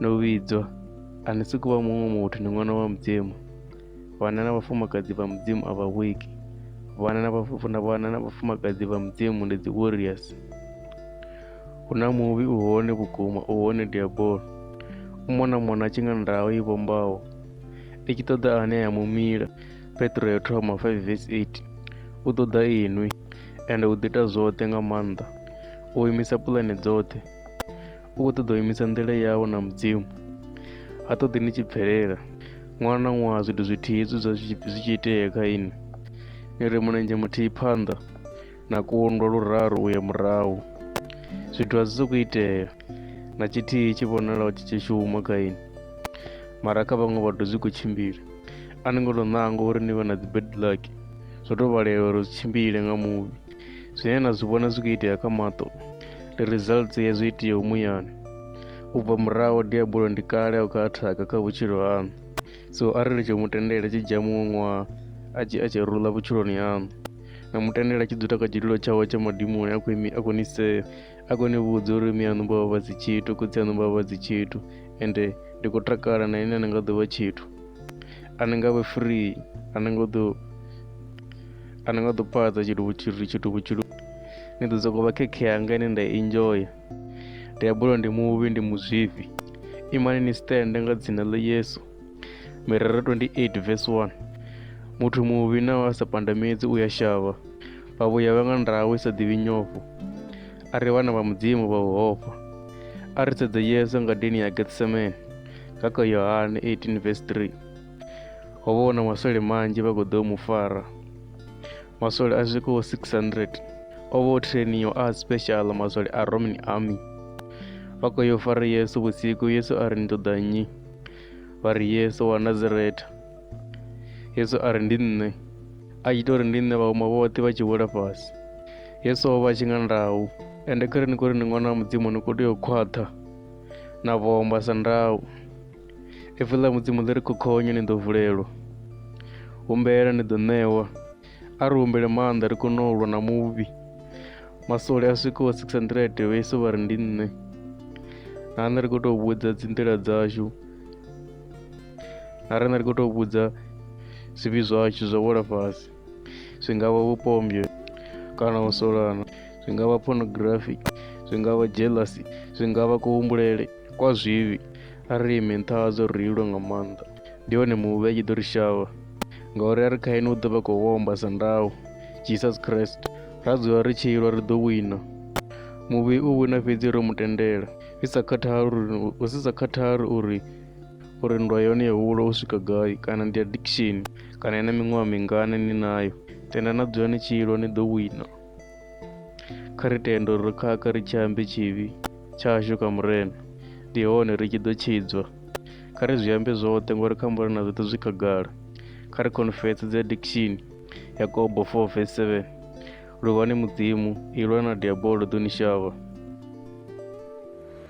Ndo vhidzwa, a ni si kuvha muṅwe muthu, ni ṅwana wa Mudzimu. Vhana na vhafumakadzi vha Mudzimu a vha vhuiki. Vhana na vhafuna vhana na vhafumakadzi vha Mudzimu ndi dzi warriors. Hu na muvhi u hone vhukuma, u hone diabolo. U mona mona tshi nga ndaho i vhombaho. I tshi ṱoḓa ane ya mumila, Petro ya thoma 5 verse 8. U ṱoḓa inwi, ende u ḓita zwoṱhe nga maanḓa. U imisa pulane dzoṱhe. u khou ṱoḓa u imisa nḓila yawo na mudzimu ha ṱoḓi ni tshi bvelela ṅwaha na ṅwaha zwithu zwithihi hezwi zwa zwi tshi itea kha ini ni ri mulenzhe muthihi phanḓa na kundwa luraru u ya murahu zwithu a zwi sokou itea na tshithihi tshi vhonalaho tshi tshi shuma kha ini mara kha vhaṅwe vhathu zwi khou tshimbila a ni ngo tou ṋanga uri ni vhe na dzi bad luck zwo tou vhalela uri zwi tshimbile nga muvhi zwine na zwi vhona zwi khou itea kha maṱo ndi results ya zwi itiyeho muyani u bva muraho diabulo ndi kale a u kha athaka kha vhutshilo haṋu so arali tsho mutendela tshi dzhia muṅwe ṅwaha a tshi a tshi rula vhutshiloni haṋu na mutendela tshi dzula kha tshidilo tshawe tsha madimoni a khou imi a khou ni sea a khou ni vhudza uri miyaṋu vha vha vha dzi tshithu khotsi aṋu vha vha vha dzi tshithu ende ndi khou takala na ine a ni nga ḓo vha tshithu a ni nga vhe free a ni nga ḓo a ni nga ḓo phaḓa tshithu vhutshithu tshithu vhutshithu ni ḓo sokou vha khekhe yanga ine nda enjoya ndi a bulwa ndi muvhi ndi muzwifhi imani ni stende nga dzina ḽa yesu mirero 28 vs 1 muthu muvhi na wa sa pandamedzi u ya shavha vha vhuya vha nga ndawe sa ḓivhi nyofho a ri vhana vha mudzimu vha u hofha a ri sedze yesu ngadeni ya getsemane nga kha yohane 18 vs 3 ho vha hu na maswole manzhi vha khou ḓo mu fara maswole a swikaho 600 o vha o trainiwa a special maswole a roman army vha khou yo fara yesu vhusiku yesu a ri ni ṱoḓa nnyi vha ri yesu wa nazareta yesu a ri ndi nṋe a tshi tou ri ndi nṋe vhauma vhoṱhe vha tshi wela fhasi yesu o vha a tshi nga ndau ende kha ri ni khou ri ni ṅwana wa mudzimu ni khou tea u khwaṱha na vhomba sa ndau Ipfi ḽa Mudzimu ḽi ri khokhonyo ni ḓo vulelwa, humbela ni ḓo ṋewa. A ri humbele maanḓa ri kone u lwa na muvhi. Masole a swikaho 600 vha Yesu vha ri ndi nṋe. Na nṋe ri khou tou vhudza dzi nḓila dzashu. Na riṋe ri khou tou vhudza zwivhi zwashu zwa wela fhasi. zwi nga vha vhupombyo kana u solana zwi nga vha pornography zwi nga vha jealousy zwi nga vha kuhumbulele kwa zwivhi a ri imi nṱha hadzo ri ilwe nga maanḓa ndi hone muvhi a tshi ḓo ri shavha ngauri a ri kha ene u ḓo vha khou homba sa ndau jesus christ ra dzula ri tshi ilwa ri ḓo wina muvhi u wina fhedzi ro mu tendela i sa khathali uri u si sa khathali uri uri nndwa yone yo hula u swika gai kana ndi addiction kana ina miṅwaha mingana ni nayo tenda na dzula ni tshilo ni ḓo wina kha ri tende uri ri khakha ri tshi ambe tshivhi tshashu kha murena ndi hone ri tshi ḓo tshidzwa kha ri zwi ambe zwoṱhe ngori kha murena zwoṱhe zwi khagala kha ri confess dzi addiction yakobo 4 verse 7 luvhani mudzimu ilwa na diabolo ḓo ni shavha